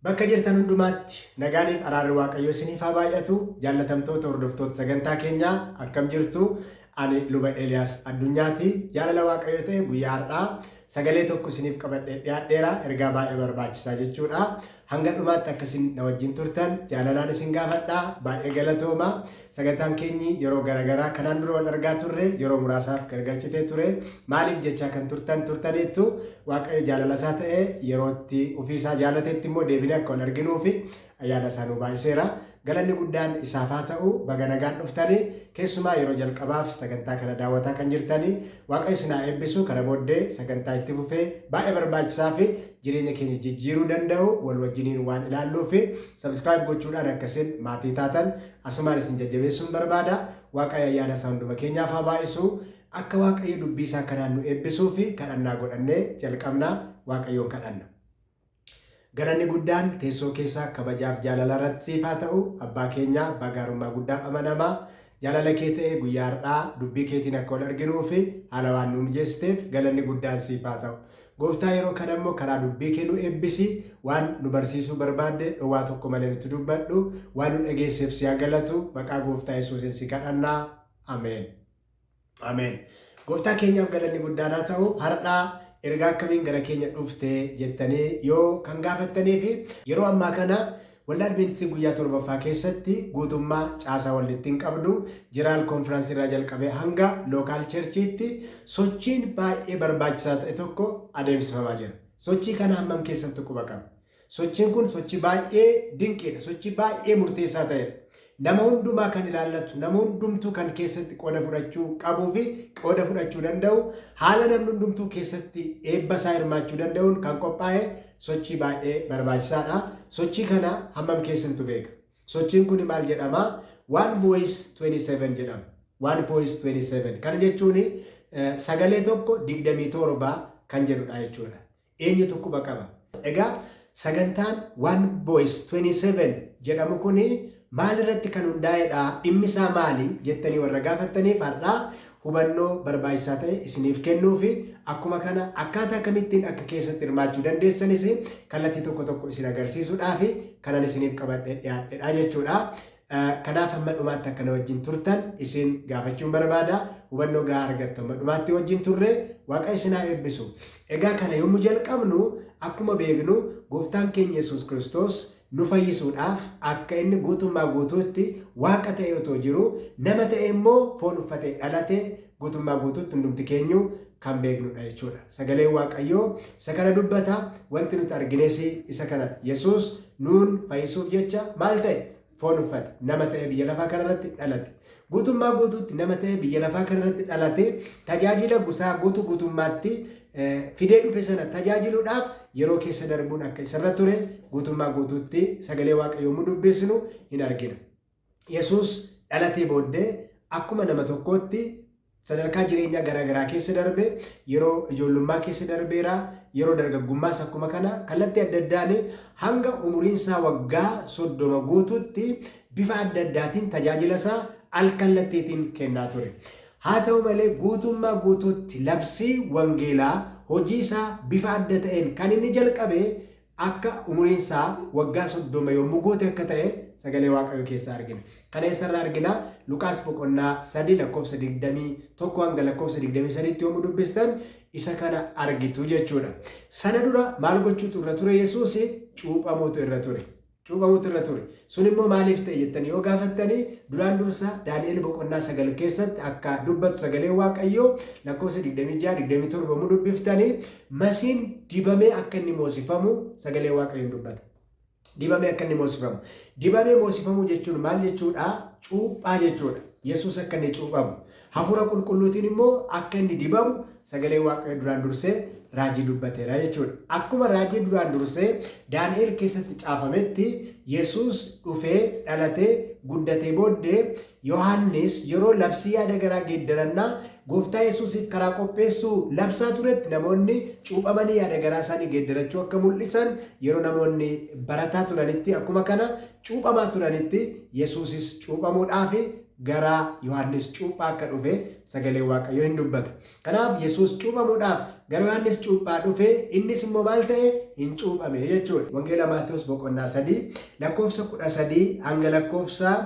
Bakka jirtan hundumaatti nagaaniif araarri waaqayyoo isiniif haa baay'atu jaallatamtoota hordoftoota sagantaa keenyaa akkam jirtu ani luba Eliyaas Addunyaati jaalala waaqayyoo ta'e guyyaa har'aa sagalee tokko isiniif qabadhee dhiyaadheera ergaa baay'ee barbaachisaa jechuudha hanga dhumaatti akka isin na wajjin turtan jaalalaan isin gaafadha baay'ee galatooma Sagantaan keenyi yeroo gara garaa kanaan dura wal argaa turre yeroo muraasaaf gargar citee ture. Maaliif jechaa kan turtan turtaniittu. Waaqayyo jaalalasaa ta'ee yeroo itti ofiisaa jaalatetti immoo deebinee akka wal arginuufi ayyaanasaa nuu baay'iseera. Galanni guddaan isaaf haa ta'u. Baga nagaan dhuftani. Keessumaa yeroo jalqabaaf sagantaa kana daawwataa kan jirtani Waaqayyo isin haa eebbisu. Kana booddee sagantaa itti fufee baay'ee barbaachisaafi jireenya keenya jijjiiruu danda'u wal wajjiniin waan ilaalluufi subscribe gochuudhaan akka isin maatii taatan Asumaan isin jajjabeessuun barbaada. Waaqaayyo ayyaana isaa hunduma keenyaaf haa baay'isu. Akka Waaqayyo dubbii isaa kanaan nu eebbisuufi kadhannaa godhannee jalqabna. Waaqayyoon kadhanna. Galanni guddaan teessoo kee isa kabajaaf jaalalaa irratti siif haa ta'u. Abbaa keenya, Abbaa gaarummaa guddaaf amanamaa, jaalala kee ta'ee guyyaa har'aa dubbii keetiin akka wal arginuufi haala waan nuu mijeessiteef galanni guddaan siif haa ta'u. Gooftaa yeroo kana immoo karaa dubbii kee nu eebbisi, waan nu barsiisuu barbaadde dhowwaa tokko malee nutti dubbadhu, waan nu dhageesseef si haa galatu, maqaa Gooftaa Yesuusiin si kadhanna. Ameen. Ameen. Gooftaa keenyaaf galanni guddaan haa ta'u, har'a ergaa akkamiin gara keenya dhufte jettanii yoo kan gaafattanii fi yeroo ammaa kana Waldaa Adventistii Guyyaa Torbaffaa keessatti guutummaa caasaa waldittiin qabdu, General Conference irraa jalqabee hanga Local Church'tti sochiin baay'ee barbaachisaa ta'e tokko adeemsifamaa jira. Sochii kana hammam keessatti quba qabna? Sochiin kun sochii baay'ee dinqiidha, sochii baay'ee murteessaa ta'edha. Nama hundumaa kan ilaallatu, nama hundumtuu kan keessatti qooda fudhachuu qabuu fi qooda fudhachuu danda'u, haala namni hundumtuu keessatti eebba isaa hirmaachuu danda'uun kan qophaa'e sochii baay'ee barbaachisaa dha. Sochii kana hammam keessantu beeka? Sochiin kuni maal jedhama? One Voice 27 jedhama. One Voice 27. Kana jechuun sagalee tokko 27 kan jedhu dha jechuu dha. Eenyutu quba qaba? Egaa sagantaan One Voice 27 jedhamu kun maalirratti kan hundaa'edha? Dhimmisaa maali? jettanii warra gaafattaniif har'a hubannoo barbaachisaa ta'e isiniif kennuufi akkuma kana akkaataa kamittiin akka keessatti hirmaachuu dandeessanis kallattii tokko tokko isin agarsiisuudhaafi kanan isiniif qabadhee dhiyaadhedha jechuudha. Kanaaf hamma dhumaatti akka na wajjin turtan isin gaafachuun barbaada. Hubannoo gahaa argattu hamma dhumaatti wajjin turre. Waaqayyo isin haa eebbisu. Egaa kana yommuu jalqabnu akkuma beeknu gooftaan keenya Yesuus Kiristoos nu fayyisuudhaaf akka inni guutummaa guutuutti Waaqa ta'ee otoo jiruu nama ta'ee immoo foon uffatee dhalate Guutummaa guutuutti hundumti keenyuu kan beeknu dha jechuu dha. Sagaleen Waaqayyoo isa kana dubbata, wanti nuti argines isa kana dha. Yesuus nuun fayyisuuf jecha maal ta'e? Foon uffate, nama ta'ee biyya lafaa kana irratti dhalate. Guutummaa guutuutti nama ta'ee biyya lafaa kana irratti dhalate, tajaajila gusaa guutuu guutummaatti fidee dhufe sana tajaajiluudhaaf yeroo keessa darbuun akka isa irra ture guutummaa guutuutti sagalee Waaqayyoo yommuu dubbisnu hin argina. Yesuus dhalatee booddee akkuma nama tokkootti sadarkaa jireenyaa garaa garaa keessa darbe, yeroo ijoollummaa keessa darbeera, yeroo dargaggummaas akkuma kana kallattii adda addaan hanga umuriinsaa waggaa 30 guututti bifa adda addaatiin tajaajilasaa al-kallattiitiin kennaa ture. Haa ta'u malee guutummaa guutuutti labsii wangeelaa hojiisaa bifa adda ta'een kan inni jalqabe akka umuriin isaa waggaa 30 yommuu guute akka ta'e sagalee Waaqayyoo keessaa argina. Kana eessarraa argina? Luqaas boqonnaa 3 lakkoofsa 21 hanga lakkoofsa 23 tti yommuu dubbistan isa kana argitu jechuudha. Sana dura maal gochuutu irra ture Yesuus? Cuuphamuutu irra ture. cuuphamuutu irra ture. Sun immoo maaliif ta'e jettanii yoo gaafattanii duraan dursa Daani'el boqonnaa 9 keessatti akka dubbatu sagaleen Waaqayyoo lakkoofsa 26, 27 yommuu dubbiftanii masiin dibamee akka inni moosifamu sagalee Waaqayyoon dubbata. Dibamee akka inni moosifamu. Dibamee moosifamuu jechuun maal jechuudha? Cuuphaa jechuudha. Yesuus akka inni cuuphamu. Hafuura Qulqulluutiin immoo akka inni dibamu sagaleen Waaqayyoo duraan dursee raajii dubbateera jechuudha. Akkuma raajii duraan dursee Daani'el keessatti caafametti Yesuus dhufee dhalatee guddatee booddee Yohaannis yeroo labsii yaada garaa geeddarannaa gooftaa Yesuusiif karaa qopheessuu labsaa turetti namoonni cuuphamanii yaada garaa isaanii geeddarachuu akka mul'isan yeroo namoonni barataa turanitti akkuma kana cuuphamaa turanitti Yesuusis cuuphamuudhaaf gara Yohaannis cuuphaa akka dhufe sagaleen Waaqayyoo hin dubbata. Kanaaf Yesuus cuuphamuudhaaf gara Yohaannis cuuphaa dhufe innis immoo maal ta'e hin cuuphame jechuudha. Wangeela Maatewos boqonnaa 3 lakkoofsa 13 hanga lakkoofsa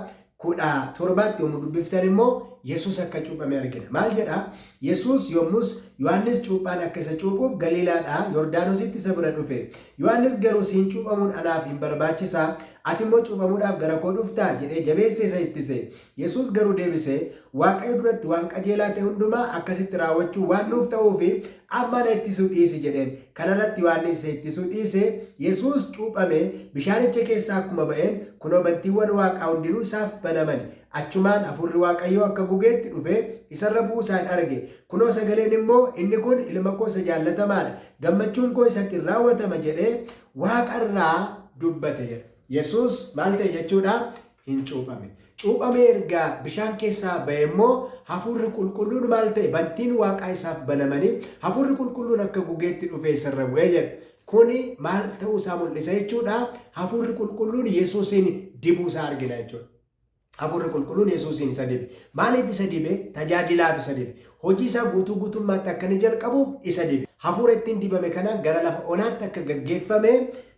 17tti yommuu dubbiftan immoo Yesuus akka cuuphame argina. Maal jedha? Yesuus yommus Yohannis cuuphaan akka isa cuuphuuf Galiilaadhaa Yordaanositti isa bira dhufe. Yohannis garuu Siin cuuphamuun anaaf hin barbaachisaa? Ati immoo cuuphamuudhaaf gara koo dhuftaa? jedhee jabeessee isa ittise. Yesuus garuu deebisee, Waaqayyo duratti waan qajeelaa ta'e hundumaa akkasitti raawwachuun waan nuuf ta'uuf, amma ana ittisuu dhiisi jedheen. Kana irratti Yohannis isa ittisuu dhiisee, Yesuus cuuphamee bishaanicha keessaa akkuma ba'een, kunoo bantiiwwan waaqaa hundinuu isaaf banamani. Achumaan Hafuurri Waaqayyoo akka gugeetti dhufee isa irra bu'uu isaan arge. Kunoo sagaleen immoo, Inni kun Ilma koo isa jaallatamaa dha, gammachuun koo isatti in raawwatama jedhee Waaqa irraa dubbate jedha. Yesuus maal ta'e jechuu dha? In cuuphame. Cuuphamee erga bishaan keessaa ba'ee immoo Hafuurri Qulqulluun maal ta'e? Bantiin Waaqaa isaaf banamanii Hafuurri Qulqulluun akka gugeetti dhufee isa irra bu'e jedha. Kuni maal ta'uu isaa mul'isa jechuu dha? Hafuurri Qulqulluun Yesuusiin dibuu isaa argina jechuu dha. Hafuurri Qulqulluun Yesuusiin isa dibe. Maaliif isa dibe? Tajaajilaaf isa dibe. Hojii isaa guutuu guutummaatti akka inni jalqabuuf isa dibe. Hafuura ittiin dibame kanaan gara lafa onaatti akka gaggeeffame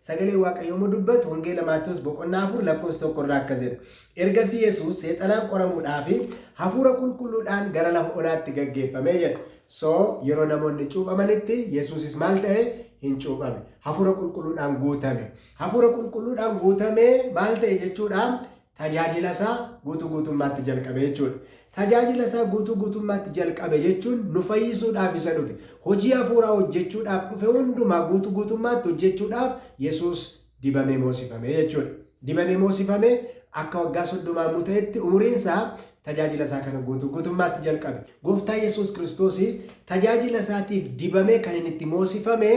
sagaleen Waaqayyoo yommuu dubbatu Wangeela Maatewos boqonnaa 4 lakkoofsa 1 irraa akkas jedha. Ergasii Yesuus seexanaan qoramuudhaaf hafuura qulqulluudhaan gara lafa onaatti gaggeeffame jedha. So yeroo namoonni cuuphamanitti Yesuusis maal ta'e? Hin cuuphame. Hafuura qulqulluudhaan guutame. Hafuura Qulqulluudhaan guutamee maal ta'e jechuu dha? Tajaajila isaa guutuu guutummaatti jalqabe jechuu dha. Tajaajila isaa guutuu guutummaatti jalqabe jechuun nu fayyisuudhaaf isa dhufe. Hojii hafuuraa hojjechuudhaaf dhufe hundumaa guutuu guutummaatti hojjechuudhaaf Yesuus dibamee moosifame jechuu dha. Dibamee moosifame akka waggaa soddomaamuu ta'etti umuriin isaa tajaajila isaa kana guutuu guutummaatti jalqabe. Gooftaa Yesuus Kiristoos tajaajila isaatiif dibamee kan inni itti moosifame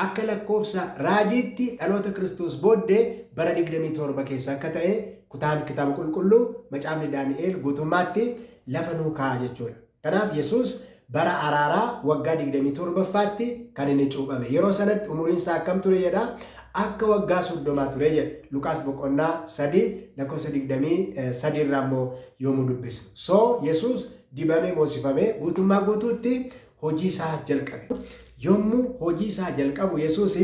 akka lakkoofsa raajiitti dhaloota Kiristoos booddee bara 27 keessa akka ta'e kutaan kitaaba qulqulluu macaafni Daani'eel guutummaatti lafa nuu kaa'a jechuudha. Kanaaf Yesuus Bara Araaraa waggaa 27ffaatti kan inni cuuphame. Yeroo sanatti umuriin isaa akkam ture jedha? Akka waggaa soddomaa ture jedha. Luqaas boqonnaa 3 lakkoofsa 23 irraa immoo yommuu dubbisnu. So, Yesuus dibamee moosifamee guutummaa guutuutti hojii isaa jalqabe. Yommuu hojii isaa jalqabu Yesuus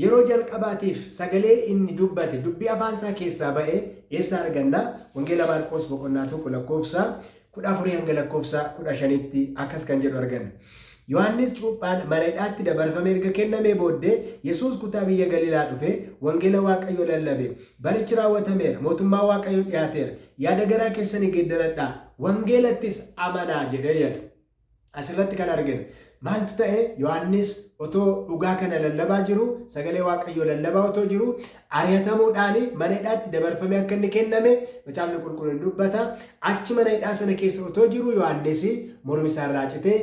yeroo jalqabaatiif sagalee inni dubbate, dubbii afaan isaa keessaa ba'e eessaa arganna? Wangeela Maarqoos boqonnaa 1 lakkoofsa 14-15tti akkas kan jedhu arganna. Yohaannis Cuuphaan mana hidhaatti dabarfamee erga kennamee booddee, Yesuus kutaa biyya Galiilaa dhufee, wangeela Waaqayyoo lallabe. Barichi raawwatameera, mootummaan Waaqayyoo dhihaateera, yaada garaa keessanii geeddaradhaa, wangeelattis amanaa jedhee yaxe. As irratti kan arginu maaltu ta'e? Yohaannis otoo dhugaa kana lallabaa jiruu, sagalee Waaqayyoo lallabaa otoo jiruu, ari'atamuudhaan mana hidhaatti dabarfamee akka inni kenname macaafni qulqulluun ni dubbata. Achi mana hidhaa sana keessa otoo jiruu Yohaannis mormi isaa irraa citee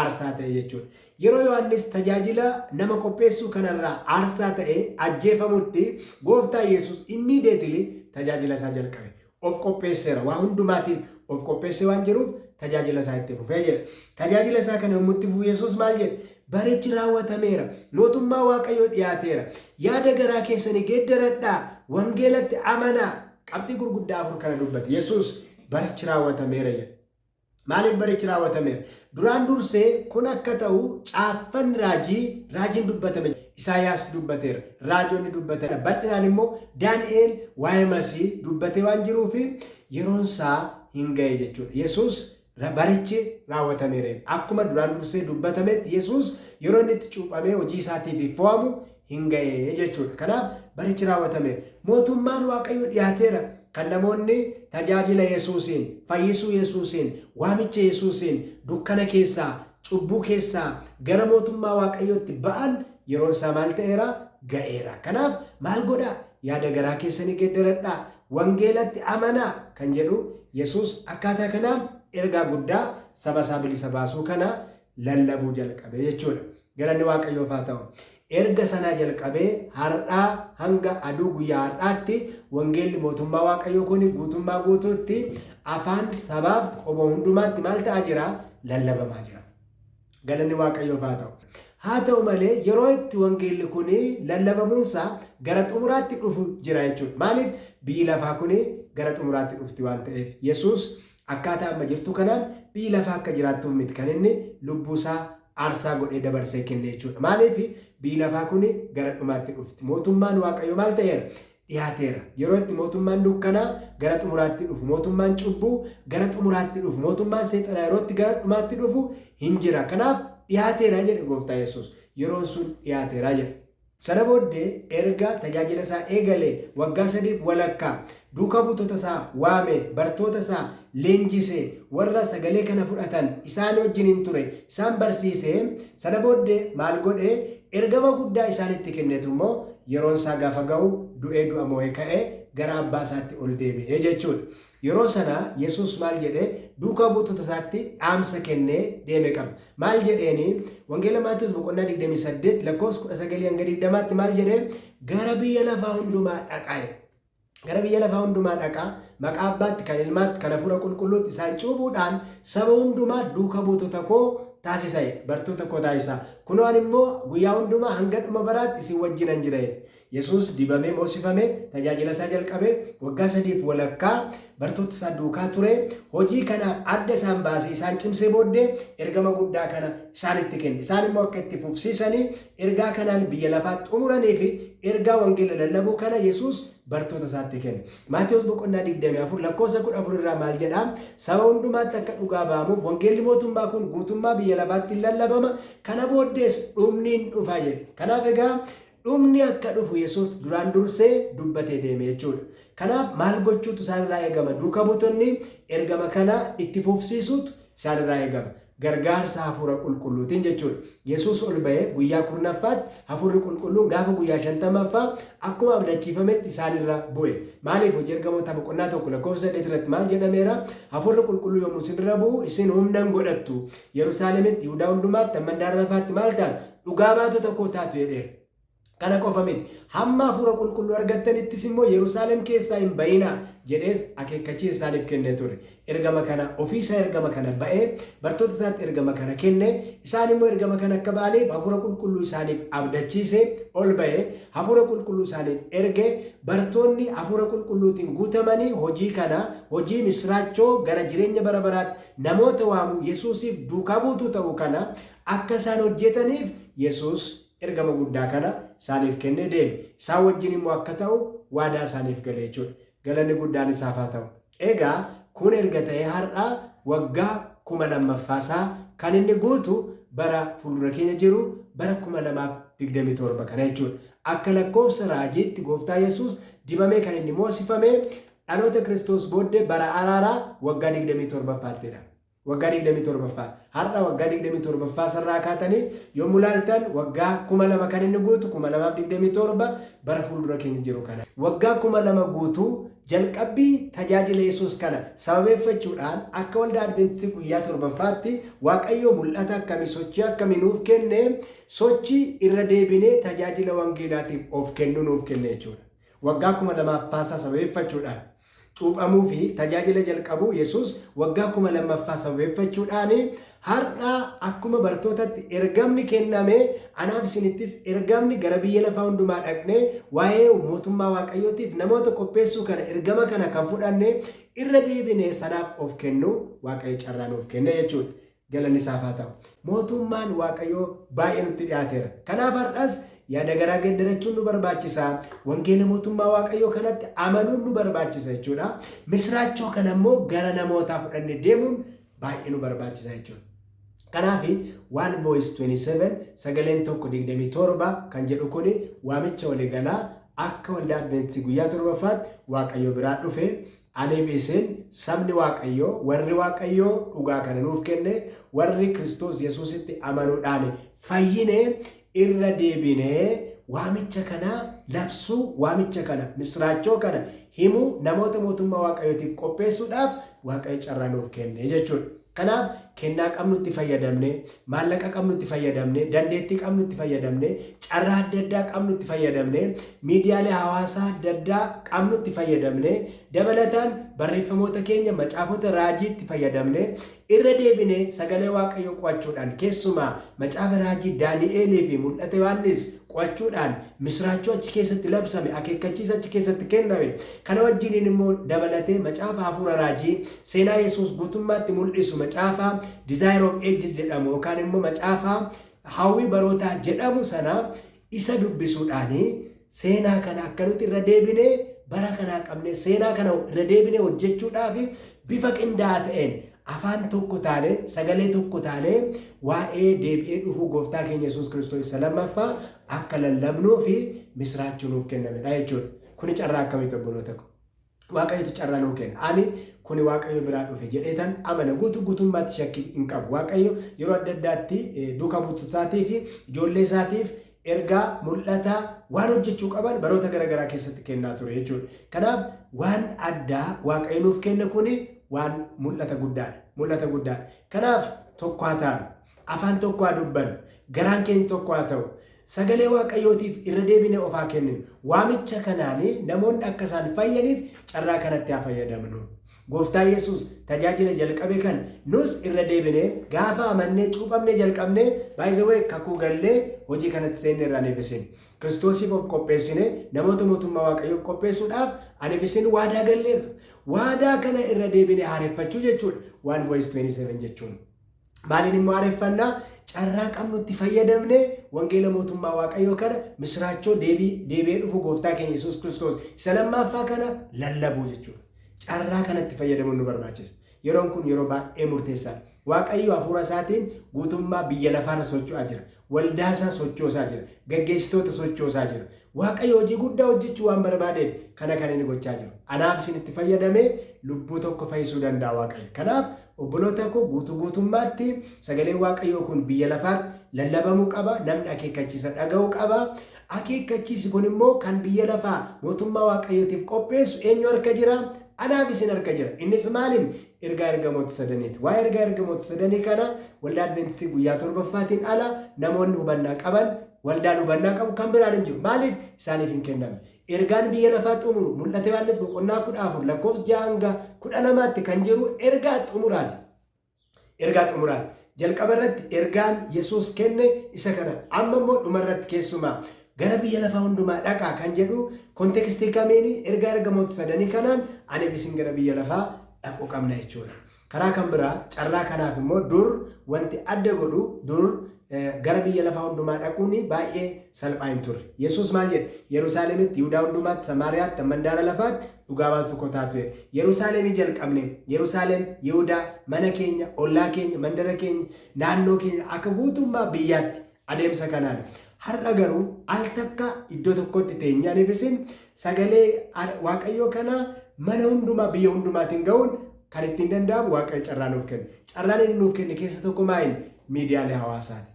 aarsaa ta'e jechuudha. Yeroo Yohaannis tajaajila nama qopheessuu kanarraa aarsaa ta'ee ajjeefamutti gooftaa Yesuus immiideetilii tajaajila isaa jalqabe. of qopheesseera. Waa hundumaatiif of qopheessee waan jiruuf tajaajila isaa itti fufe jedha. Tajaajila isaa kana yommuu itti fufu Yesuus maal jedhe? Barichi raawwatameera. Mootummaa Waaqayyoo dhiyaateera. Yaada garaa keessanii geeddaradhaa. Wangeelatti amanaa. Qabxii gurguddaa afur kana dubbate. Yesuus barichi raawwatameera jedhe. Maaliif barichi raawwatameera? Duraan dursee kun akka ta'u caaffanni raajii, raajiin dubbatame jira. Isaayaas dubbateera. Raajonni dubbataniiru. Bal'inaan immoo Daani'eel waa'ee Masii dubbatee waan jiruuf yeroon isaa hin ga'e jechuudha. Yesuus barichi raawwatameera. Akkuma duraan dursee dubbatametti Yesuus yeroo inni itti cuuphamee hojii isaatiif fo'amu hin ga'e jechuu dha. Kanaaf barichi raawwatameera. Mootummaan Waaqayyoo dhiyaateera kan namoonni tajaajila Yesuusiin, fayyisuu Yesuusiin, waamicha Yesuusiin dukkana keessaa, cubbuu keessaa gara mootummaa Waaqayyootti ba'an yeroon isaa maal ta'eera? Ga'eera. Kanaaf maal godhaa? Yaada garaa keessanii geddaradhaa, wangeelatti amanaa kan jedhu Yesuus akkaataa kanaan ergaa guddaa saba isaa bilisa baasuu kana lallabuu jalqabe jechuu dha. Galanni Waaqayyoof haa ta'u! Erga sanaa jalqabee har'aa hanga aduu guyyaa har'aatti wangeelli mootummaa Waaqayyoo kun guutummaa guutuutti afaan, sabaaf, qomoo hundumaatti maal ta'aa jira? Lallabamaa jira. Galanni Waaqayyoof haa ta'u! Haa ta'u malee yeroo itti wangeelli kun lallabamuunsaa gara xumuraatti dhufu jira jechuudha. Maaliif? Biyyi lafaa kun gara xumuraatti dhufti waan ta'eef. Yesuus Akkaataa amma jirtu kanaan biyyi lafaa akka jiraattuuf miti kan inni lubbuu isaa aarsaa godhee dabarsee kenne jechuu dha. Maaliif? Biyyi lafaa kun gara dhumaatti dhufti. Mootummaan Waaqayyoo maal ta'eera? Dhihaateera. Yeroo itti mootummaan dukkanaa gara xumuraatti dhufu, mootummaan cubbuu gara xumuraatti dhufu, mootummaan seexanaa yeroo itti gara dhumaatti dhufu hin jira. Kanaaf dhihaateera jedhe gooftaa Yesuus. Yeroon sun dhihaateera jedhe. Sana booddee erga tajaajila isaa eegalee waggaa sadiif walakkaa, duuka buutota isaa waamee, bartoota isaa leenjisee, warra sagalee kana fudhatan isaan wajjinin ture, isaan barsiisee, sana booddee maal godhe? Ergama guddaa isaanitti kennetu immoo yeroon isaa gaafa ga'u du'ee du'a moo'ee ka'ee gara abbaa isaatti ol deebi'e jechuudha. Yeroo sana Yesuus maal jedhe? Duukaa buutota isaatti dhaamsa kennee deeme qaba. Maal jedheeni? Wangeela Maatewos boqonnaa 28 lakkoofsa 19 hanga 20tti maal jedhe? Gara biyya lafaa hundumaa dhaqaa jedhe. Gara biyya lafaa hundumaa dhaqaa maqaa abbaatti kan ilmaatti kan hafuura qulqulluutti isaan cuubuudhaan saba hundumaa duuka buutota koo taasisa jedhe. Bartoota koo taasisa. Kunoo ani immoo guyyaa hundumaa hanga dhuma baraatti isin wajjinan jira jedhe. Yesuus dibamee moosifame, tajaajilasaa jalqabe, waggaa sadiif walakkaa bartootasaa duukaa ture, hojii kana adda isaan baasee isaan cimsee booddee ergama guddaa kana isaanitti kenne. Isaan immoo akka itti fufsiisanii ergaa kanaan biyya lafaa xumuraniifi ergaa wangeela lallabuu kana Yesuus bartootasaatti kenne. Maatewos boqonnaa 24 lakkoofsa 14 irraa maal jedha? Saba hundumaatti akka dhugaa ba'amuuf wangeelli mootummaa kun guutummaa biyya lafaatti in lallabama, kana booddees dhumni in dhufa jedhe. Kanaaf egaa Dhumni akka dhufu Yesuus duraan dursee dubbatee deeme jechuudha. Kanaaf maal gochuutu isaan irraa eegama? Duuka buutonni ergama kana itti fufsiisuutu isaan irraa eegama. Gargaarsa Hafuura Qulqulluutiin jechuudha. Yesuus ol ba'ee guyyaa kurnaffaatti Hafuurri Qulqulluun gaafa guyyaa shantamaffaa akkuma abdachiifametti isaan irra bu'e. Maaliif? Hojii Ergamootaa boqonnaa 1 lakkoofsa 8 irratti maal jedhameera? Hafuurri Qulqulluu yommuu isin irra bu'u isin humna in godhattu, Yerusaalemitti, Yihudaa hundumaatti, hamman daaraa lafaatti maal taatu? Dhugaa baatota koo taatu jedheera. Kana qofa miti, hamma Hafuura Qulqulluu argattanittis immoo Yerusaalem keessaa hin ba'inaa! jedhees akeekkachiisa isaaniif kennee ture. Ergama kana, ofii isaa ergama kana ba'ee, bartoota isaatti ergama kana kenne, isaan immoo ergama kana akka ba'aniif Hafuura Qulqulluu isaaniif abdachiise, ol ba'e, Hafuura Qulqulluu isaaniif erge, bartoonni Hafuura Qulqulluutiin guutamanii hojii kana, hojii misraachoo gara jireenya bara baraatti Namoota waamuu, Yesuusiif duukaa buutuu ta'uu kana akka isaan hojjetaniif Yesuus ergama guddaa kana isaaniif kennee deeme. Isaan wajjin immoo akka ta'u waadaa isaaniif gale jechuudha. Galanni guddaan isaaf haa ta'u. Egaa kun erga ta'ee har'a waggaa kuma lammaffaa isaa kan inni guutu bara fuuldura keenya jiru bara 2027 kana jechuudha. Akka lakkoofsa raajiitti gooftaa Yesuus dibamee kan inni moosifame Dhaloota Kiristoos booddee bara araaraa waggaa 27ffaatti dha. Waggaa 27ffaa. Har'a waggaa 27ffaa isarraa kaatanii yommu laaltan waggaa 2000 kan inni guutu 2027 bara fuuldura keenya jiru kana. Waggaa 2000 guutuu jalqabbii tajaajila Yesuus kana sababeeffachuudhaan akka Waldaa Adventistii Guyyaa Torbaffaatti Waaqayyoo mul'ata akkamii, sochii akkamii nuuf kenne? Sochii irra deebinee tajaajila wangeelaatiif of kennuu nuuf kenne jechuudha. Waggaa 2000 ffaasaa sababeeffachuudhaan. Cuuphamuu fi tajaajila jalqabuu Yesuus waggaa 2000ffaa sababeeffachuudhaan, Har'a akkuma bartootatti ergamni kenname, anaaf isinittis ergamni gara biyya lafaa hundumaa dhaqnee waa'ee mootummaa Waaqayyootiif namoota qopheessuu kana, ergama kana kan fudhanne, irra deebinee sanaaf of kennuu Waaqayyo carraa nuuf kenne jechuudha. Galanni isaaf haa ta'u. Mootuummaan Waaqayyoo baay'ee nutti dhiyaateera. Kanaaf har'as yaada garaa geeddarachuun nu barbaachisa. Wangeela mootummaa Waaqayyoo kanatti amanuun nu barbaachisa jechuudha. Misiraachoo kana immoo gara namootaa fudhanne deemuun baay'ee nu barbaachisa jechuudha. Kanaaf One Voice 27 sagaleen tokko 27 kan jedhu kun waamicha waliigalaa akka waldaa Adventistii guyyaa torbaffaatti Waaqayyo biraa dhufe Adeebi'iseen, Sabni Waaqayyoo, warri Waaqayyo dhugaa kana nuuf kenne, warri Kiristoos Yesuusitti amanuudhaan fayyine, irra deebinee waamicha kana labsuu, waamicha kana, misiraachoo kana himuu, namoota mootummaa Waaqayyootiif qopheessuudhaaf Waaqayyo carraa nuuf kenne jechuudha. Kanaaf kennaa qabnutti fayyadamnee, maallaqa qabnutti fayyadamnee, dandeettii qabnutti fayyadamnee, carraa adda addaa qabnutti fayyadamnee, miidiyaalee hawaasaa adda addaa qabnutti fayyadamnee, dabalataan barreeffamoota keenya macaafota raajiitti fayyadamnee, irra deebinee sagalee Waaqayyoo qo'achuudhaan, keessumaa macaafa raajii Daani'eelii fi mul'ata Yohaannis qo'achuudhaan, misiraachoo achi keessatti labsame, akeekkachiisa achi keessatti kenname, kana wajjiniin immoo dabalatee macaafa hafuura raajii Seenaa Yesuus guutummaatti mul'isu macaafa Desire of Ages jedhamu yookaan immoo macaafa Hawwii Barootaa jedhamu sana isa dubbisuudhaan seenaa kana akka nuti irra deebinee bara kanaa qabnee seenaa kana irra deebinee hojjechuudhaaf bifa qindaa'aa ta'een afaan tokko taane sagalee tokko taane waa'ee deebi'ee dhufuu gooftaa keenya Yesuus Kiristoos isa lammaffaa akka lallabnuu fi misiraachuu nuuf kennamedha jechuudha. Kuni carraa akkamiiti obboloota ko? Waaqayyotu carraa nuu kenna. Ani kuni Waaqayyo biraa dhufe jedheetan amana. Guutuu guutummaatti shakkii hin qabu. Waaqayyo yeroo adda addaatti duuka buutotasaatiif, ijoolleesaatiif ergaa, mul'ata, waan hojjechuu qaban baroota gara garaa keessatti kennaa ture jechuudha. Kanaaf waan addaa Waaqayyo nuuf kenne kuni waan mul'ata guddaadha. Mul'ata guddaadha. Kanaaf tokko haa taanu. Afaan tokko haa dubbannu. Garaan keenya tokko haa ta'u. Sagalee Waaqayyootiif irra deebinee of haa kenninu. Waamicha kanaan namoonni akka isaan fayyaniif carraa kanatti haa fayyadamnu. Gooftaa Yesuus tajaajila jalqabe kana nus irra deebinee gaafa amannee cuuphamnee jalqabnee by the way kakuu gallee hojii kanatti seenne irraa aniif isin Kiristoosiif of qopheessine namoota mootummaa Waaqayyoof qopheessuudhaaf aniif isin waadaa galleerra. Waadaa kana irra deebinee haareffachuu jechuudha. 1 voice 27 jechuun. Maaliin immoo haareffannaa? Carraa qabnutti fayyadamnee wangeela mootummaa Waaqayyoo kana misiraachoo deebii deebi'ee dhufu gooftaa keenya Yesuus Kiristoos isa lammaaffaa kana lallabuu jechuudha. Carraa kanatti fayyadamuun nu barbaachisa. Yeroon kun yeroo baay'ee murteessaadha. Waaqayyo hafuura isaatiin guutummaa biyya lafaarra socho'aa jira. Waldaa isaa sochoosaa jira. Gaggeessitoota sochoosaa jira. Waaqayyo hojii guddaa hojjechuu waan barbaadeef kana kan inni gochaa jiru. Anaaf isin itti fayyadamee lubbuu tokko fayyisuu danda'a Waaqayyo. Kanaaf obboloota koo guutuu guutummaatti sagaleen Waaqayyoo kun biyya lafaatti lallabamuu qaba, namni akeekkachiisa dhaga'uu qaba. Akeekkachiisi kun immoo kan biyya lafaa mootummaa Waaqayyootiif qopheessu eenyu harka jira? Anaaf isin harka jira. Innis maaliin? Ergaa ergamoota sadaniiti. Waa'ee ergaa ergamoota sadanii kana waldaa Adventistii guyyaa torbaffaatiin ala namoonni hubannaa qaban Waldaan hubannaa qabu kan biraan hin jiru. Maaliif? Isaaniif hin kennamne. Ergaan biyya lafaa xumuru, Mul'ata Yohaannis boqonnaa 14 lakkoofsa 6 hanga 12 tti kan jiru ergaa xumuraa ti. Ergaa xumuraa ti. Jalqaba irratti ergaan Yesuus kenne isa kana. Amma immoo dhuma irratti keessumaa gara biyya lafaa hundumaa dhaqaa kan jedhu kontekstii kamiini? Ergaa ergamoota sadanii kanaan aniif isin gara biyya lafaa dhaquu qabna jechuu dha. Karaa kan biraa carraa kanaaf immoo dur wanti adda godhu dur gara biyya lafaa hundumaa dhaquun baay'ee salphaa hin turre. Yesuus maal jedhe? Yerusaalemitti, Yihudaa hundumaatti, Samaariyaatti, mandaara lafaatti dhugaa baatuu koo taatu jedhe. Yerusaalemii jalqabnee, Yerusaalem, Yihudaa, mana keenya, ollaa keenya, mandara keenya, naannoo keenya akka guutummaa biyyaatti Adeemsa kanaan har'a garuu al takka iddoo tokkotti teenyee aniif isin sagalee Waaqayyoo kana mana hundumaa biyya hundumaatiin ga'uun kan ittiin danda'amu Waaqayyo carraa nuuf kenne. Carraan inni nuuf kenne keessa tokko maa'in miidiyaalee hawaasaati.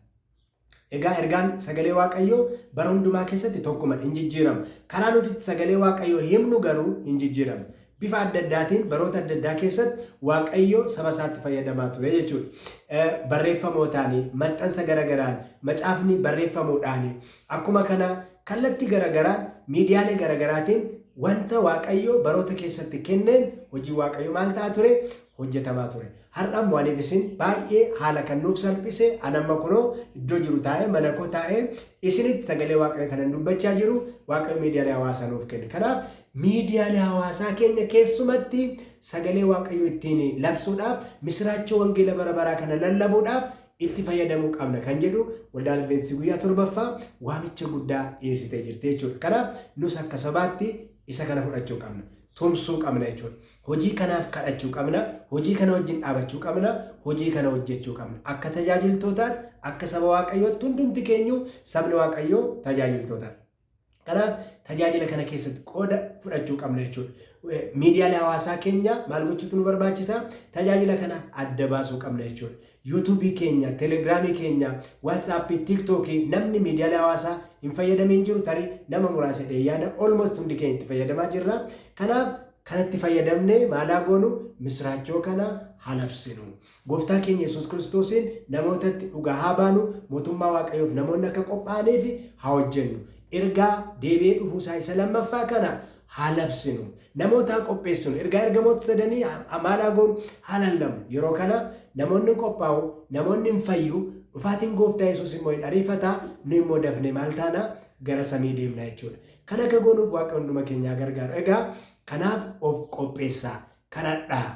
Egaa ergaan sagalee Waaqayyoo bara hundumaa keessatti tokkuma hin jijjiiramu. Karaa nuti sagalee Waaqayyoo himnu garuu hin jijjiiramu. Bifa adda addaatiin baroota adda addaa keessatti Waaqayyo saba isaatti fayyadamaa ture jechuudha. Barreeffamootaan, maxxansa gara garaan, macaafni barreeffamuudhaan, akkuma kana kallattii gara garaan miidiyaalee gara garaatiin wanta Waaqayyo baroota keessatti kenneen hojiin Waaqayyo maal ta'a ture? hojjetamaa ture. Har'a immoo aniif isin baay'ee haala kan nuuf salphise an amma kunoo iddoo jiru taa'ee mana koo taa'ee isinitti sagalee Waaqayyo kanan dubbachaa jiru Waaqayyo miidiyaalee hawaasaa nuuf kenne. Kanaaf Miidiyaan hawaasaa keenya keessumatti sagalee Waaqayyoo ittiin labsuudhaaf, misiraachoo wangeela bara baraa kana lallabuudhaaf itti fayyadamuu qabna kan jedhu Waldaan Adventistii Guyyaa Torbaffaa waamicha guddaa dhiyeessitee jirti jechuudha. Kanaaf nus akka sabaatti isa kana fudhachuu qabna. Tumsuu qabna jechuudha. Hojii kanaaf kadhachuu qabna, hojii kana wajjin dhaabachuu qabna, hojii kana hojjechuu qabna. Akka tajaajiltootaatti, akka saba Waaqayyootti hundumti keenyuu sabni Waaqayyoo tajaajiltootadha. Kanaaf tajaajila kana keessatti qooda fudhachuu qabna jechuudha. Miidiyaalee hawaasaa keenya maal gochuutu nu barbaachisa? Tajaajila kana adda baasuu qabna jechuudha. Yuutuubii keenya, Telegiraamii keenya, Waatsaappii, Tiiktookii namni miidiyaalee hawaasaa hin fayyadamiin jiru tarii nama muraasa dhee yaada olmost hundi keenya itti fayyadamaa jirra. Kanaaf kanatti fayyadamnee maalaa goonu misraachoo kana halabsinu. Gooftaa keenya Yesuus Kiristoosiin namootatti dhugaa haa baanu, mootummaa Waaqayyoof namoonni akka qophaa'aniif haa hojjennu. Ergaa deebi'ee dhufuu isaa isa lammaffaa kana haa labsinu. Namoota haa qopheessinu. Ergaa ergamoota sadanii maal haa goonu? Haa lallabnu. Yeroo kana namoonni hin qophaa'u, namoonni hin fayyu, dhufaatiin Gooftaa Yesuus immoo hin ariifata, nu immoo dafnee maal taana? Gara samii deemna jechuudha. Kan akka goonuuf Waaqayyo hunduma keenya haa gargaaru. Egaa kanaaf of qopheessaa, kadhadhaa.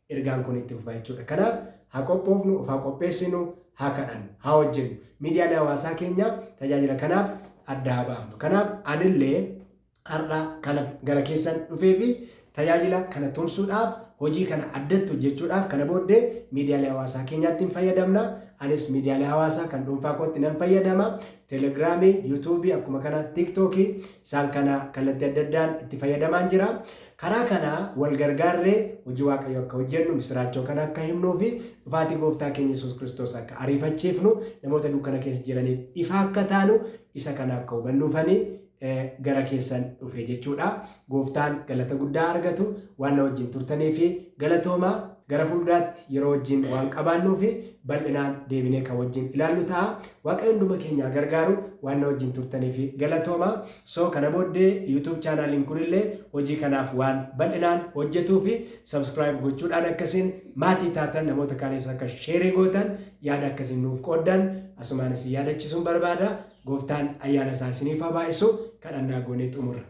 Ergaan kun itti fufa jechuudha. Kanaaf haa qophoofnu, of haa qopheessinu, haa kadhannu, haa hojjennu. Miidiyaalee hawaasaa keenya tajaajila kanaaf adda haa baafnu. Kanaaf anillee har'a kana gara keessan dhufee fi tajaajila kana tumsuudhaaf hojii kana addatti hojjechuudhaaf kana booddee miidiyaalee hawaasaa keenyaatti hin fayyadamna. Anis miidiyaalee hawaasaa kan dhuunfaa kootti nan fayyadama. Telegiraamii, yuutuubii akkuma kana tiktookii isaan kana kallattii adda addaan itti fayyadamaan jira. Karaa kana wal gargaarree hojii Waaqayyoo akka hojjennu, misiraachoo kana akka himnuu fi dhufaatii Gooftaa keenya Yesuus Kiristoos akka ariifachiifnu, namoota dukkana keessa jiraniif ifa akka taanu, isa kana akka hubannuufani gara keessan dhufe jechuudha. Gooftaan galata guddaa haa argatu waan na wajjin turtaniif galatoomaa. Gara fuulduraatti yeroo wajjin waan qabaannuufi bal'inaan deebinee kan wajjin ilaallu taha. Waaqayyo hunduma keenya haa gargaaru. Waan na wajjin turtaniif galatoomaa. So kana booddee YouTube chaanaaliin kunillee hojii kanaaf waan bal'inaan hojjetuufi subscribe gochuudhaan akka isin maatii taatan namoota kaaniifis akka share gootan yaada akka isin nuuf qooddan asumaan isin yaadachisuun barbaada. Gooftaan ayyaana isaa isiniif haa baay'isu. Kadhannaa goonee xumurra.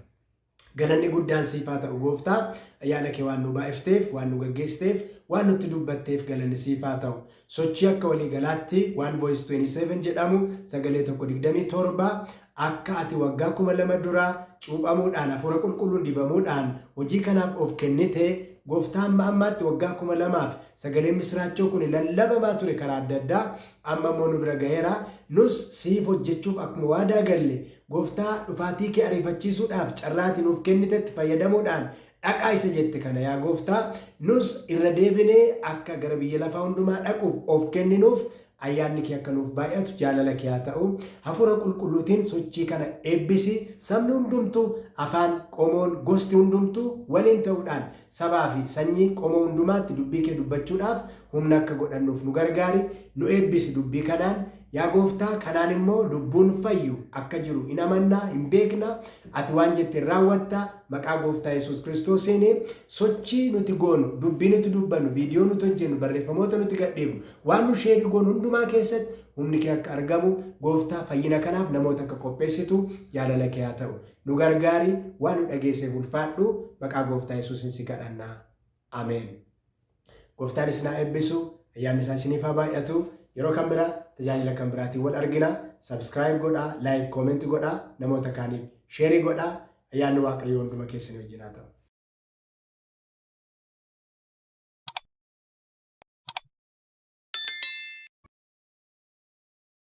Galanni guddaan siif haa ta'u gooftaa ayyaana kee waan nu baay'ifteef, waan nu gaggeessiteef, waan nutti dubbatteef galanni siif haa ta'u. Sochii akka walii galaatti One Voice 27 jedhamu sagalee tokko 27 akka ati waggaa 2000 dura cuuphamuudhaan hafuura qulqulluun dibamuudhaan hojii kanaaf of kennite gooftaa amma ammaatti waggaa 2000f sagaleen misiraachoo kun lallabamaa ture karaa adda addaa amma immoo nu bira gaheera nus siif hojjechuuf akkuma waadaa galle Gooftaa, dhufaatii kee ariifachiisuudhaaf carraa ati nuuf kennitetti fayyadamuudhaan, dhaqaa isa jette kana yaa Gooftaa, nus irra deebinee akka gara biyya lafaa hundumaa dhaquuf of kenninuuf ayyaanni kee akka nuuf baay'atu jaalala kee haa ta'u. Hafuura Qulqulluutiin sochii kana eebbisi. Sabni hundumtuu, afaan, qomoon, gosti hundumtuu waliin ta'uudhaan Sabaa fi sanyii qomoo hundumaatti dubbii kee dubbachuudhaaf humna akka godhannuuf nu gargaari, nu eebbisi dubbii kanaan. Yaa Gooftaa, kanaan immoo lubbuun fayyu akka jiru in amanna, in beekna, ati waan jette in raawwatta. Maqaa Gooftaa Yesuus Kiristoosiin sochii nuti goonu, dubbii nuti dubbannu, viidiyoo nuti hojjennu, barreeffamoota nuti gadhiifnu, waan nu sheeri goonu hundumaa keessatti humni kee akka argamu, Gooftaa, fayyina kanaaf namoota akka qopheessitu jaalala kee haa ta'u. Nu gargaari waan nu dhageesseef ulfaadhu maqaa gooftaa yesuusin si kadhanna ameen. Gooftaan isin haa eebbisu ayyaanni isaa isiniif haa baay'atu yeroo kan biraa tajaajila kan biraatiin wal argina subscribe godhaa like comment godhaa namoota kaaniif sheerii godhaa ayyaanni waaqayyoo hunduma keessanii wajjin haa ta'u.